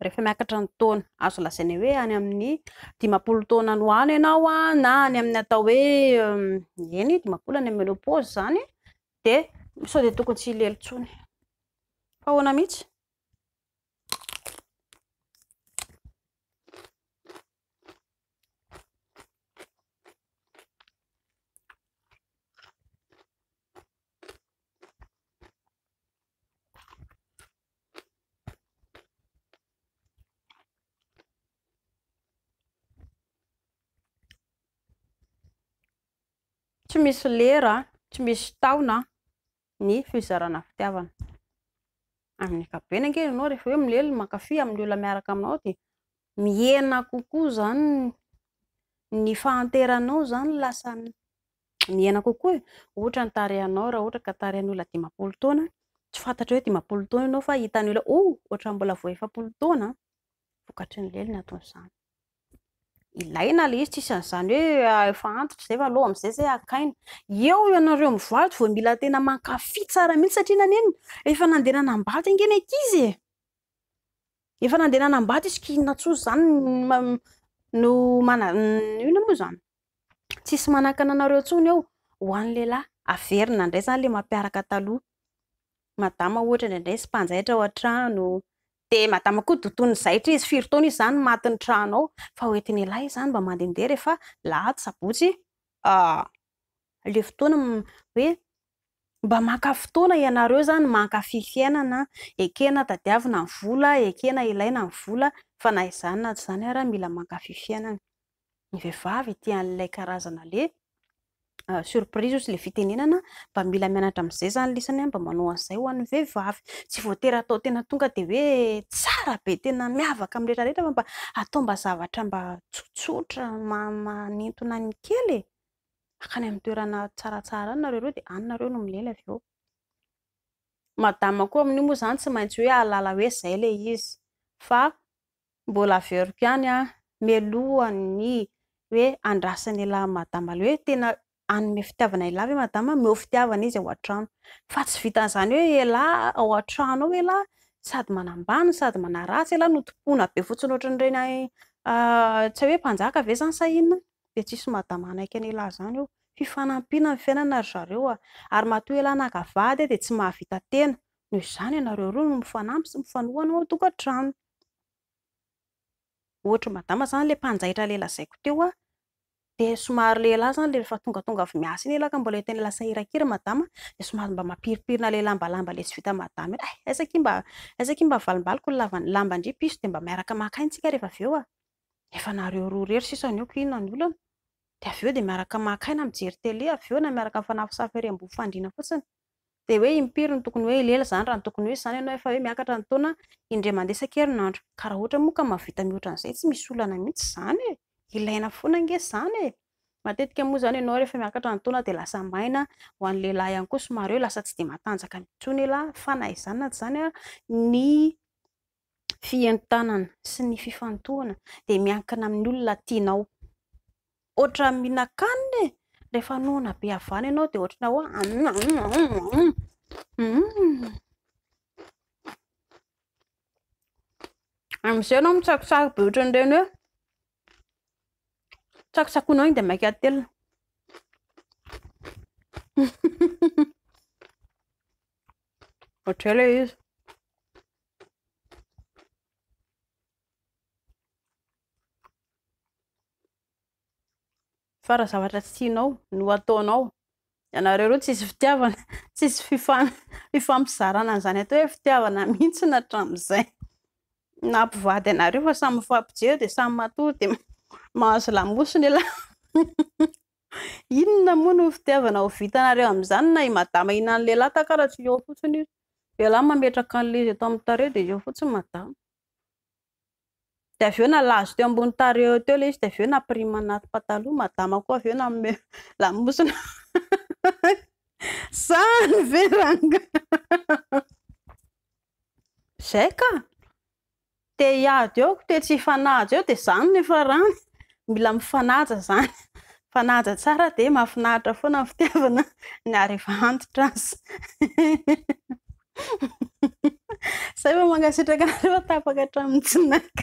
rehefa miakatra ny taona azo lazaina hoe any amin'ny dimampolo taona no any ianao na any amin'ny atao hoe eny dimampolo any amin'ny menopause zany dia sao dia tokony tsy hilely tsony fa ahoana mihitsy Tsy misy lera, tsy misy taona. ny fizarana fitiavana. Amin'ny ankapobeny ange ianao rehefa hoe milely mankafy amin'ny olona miaraka aminao dia mihena kokoa izany ny fahanteranao izany lasa mihena kokoa e. Ohatra ny tarehinao raha ohatra ka tarehin'ny olona dimampolo taona, tsy fantatrao hoe dimampolo taona ianao fa hitan'ny olona oh ohatran'ny mbola vao efapolo taona vokatry ny lely ny aton'izany. ilaina ilay izy, tsisy an'izany hoe efa antitra izay fa aleo amin'izay izay hakaina. Eo ianareo mivady vao mila tena mankafy tsara mihitsy satria nanenina efa nandeha nanambady ange ny ankizy e! Efa nandeha nanambady izy ka inona intsony izany no mana- inona moa izany? Tsisy manakana anareo intsony eo ho an'ny lehilahy, averina indray izany ilay mampiaraka taloha, madama ohatra indraindray sy mpanjaitra ao an-trano, Dia madama koa dotoin'ny zaitra izy, firy taona izy izany no matin'ny trano ao, fa hoentin'ialahy izany mba mandehandeha rehefa lahady, sabotsy, ah, ilay fotoana hoe mba maka fotoana ianareo izany mankafy fiainana, ekena tadiavina ny vola, ekena ilaina ny vola, fa na izany na tsy izany ary mila mankafy fiainana. ny vehivavy ity an'ilay karazana le surprise ozy le fitenenana mba mila mianatra amin'izay zany lisany mba manao an'izay ho an'ny vehivavy tsy voatery atao tena tonga dia hoe tsara be tena miavaka amin'ny rehetra rehetra fa mba atao mba zavatra mba tsotsotra manintona ny kely e akany amin'ny toerana tsaratsara any nareo reo dia any nareo no milena avy eo madama koa amin'io moa zany tsy maintsy hoe ahalala hoe izay le izy fa Mbola averiko ihany an, mialoha ny hoe andrasana elah madama le hoe tena hanome fitiavana elah ve madama, omeo fitiavana izy ao an-trano, fa tsy vitan'izany hoe elah ao an-trano ao elah sady manambany no sady manaratsy elah no tompoina be fotsiny ohatran'ireny any tsy hay hoe mpanjaka ve zany sa inona dia tsisy madama hanaiky an'elah izany eo, fifanampiana ny fiainana ry zareo an, ary matoa elah naka vady dia tsy mahavita tena, noho izany ianareo roa no mifanampy sy mifanohana ao an-tokantrano. Ohatry ny madama izany ilay mpanjaitra ilay lazaiko teo an, dia somary lehilahy izany ilay efa tongatonga avy miasa iny elaka mbola tena lasa iraika ira madama dia somary mba mampirimpirina ilay lambalamba ilay tsy vita madama iny, hay aiza akia mba aiza akia mba avalimbaliky ny lava lamban-dry piso dia mba miaraka maka aina isika rehefa avy eo an! efa nareo roa irery sisa ny oko inona ny olana? dia avy eo dia miaraka maka aina mijery tele avy eo na miaraka mifanafosafo ery am-bovon-fandriana fotsiny. dia hoe impiry no tokony hoe hilela izany raha ny tokony ho izy izany ianao efa hoe miakatra ny taona indray mandeha isan-kerinandro. Ka raha ohatra moa ka mahavita mihoatra an'izay tsy misy olana mihitsy izany e! Ilaina foana ange izany e! Matetika moa izany ianao rehefa miakatra ny taona dia lasa maina, ho an'ny lehilahy ihany koa somary hoe lasa tsy dia matanjaka intsony elah, fa na izany na tsy izany ary ny fientanana sy ny fifantohana dia miankina amin'ny olona tianao. Ohatran'ny mihinan-kanina e! Rehefa noana be havana ianao dia ohatrana hoe amin'izay ianao mitsakotsaky be ohatran'ireny hoe tsakotsakoinao iny dia maika atelina. Ohatr'izay ilay izy. fa raha zavatra tsy tianao no ataonao ianareo ireo tsisy fitiavana tsisy fifan fifampizarana an'izany atao hoe fitiavana mihitsy na hatramin'izay na mpivady anareo fa samy mifampijery dia samy matory dia mahazo lamosina ialahy inona moa no fitiavana ho vitanareo amin'izany na i madama hihinan'ny lehilahy takara tsy eo fotsiny izy Ialahy mametraka an'ilay izy eto amin'ny tarehy dia eo fotsiny madama. Dia avy eo nalazo teo ambony tarehy eo teo ilay izy dia avy eo napirimina anaty pataloha, madama koa avy eo nanome lamosina. Zany ve rangahy? Izay ka! te hiady eo, te tsy hifanaja eo dia izany ny farany, mila mifanaja izany, mifanaja tsara dia mahafinaritra foana ny fitiavana na ary efa antitra aza. Zay vao mankasitraka anareo fa tapaka hatramin'ny tsinaka.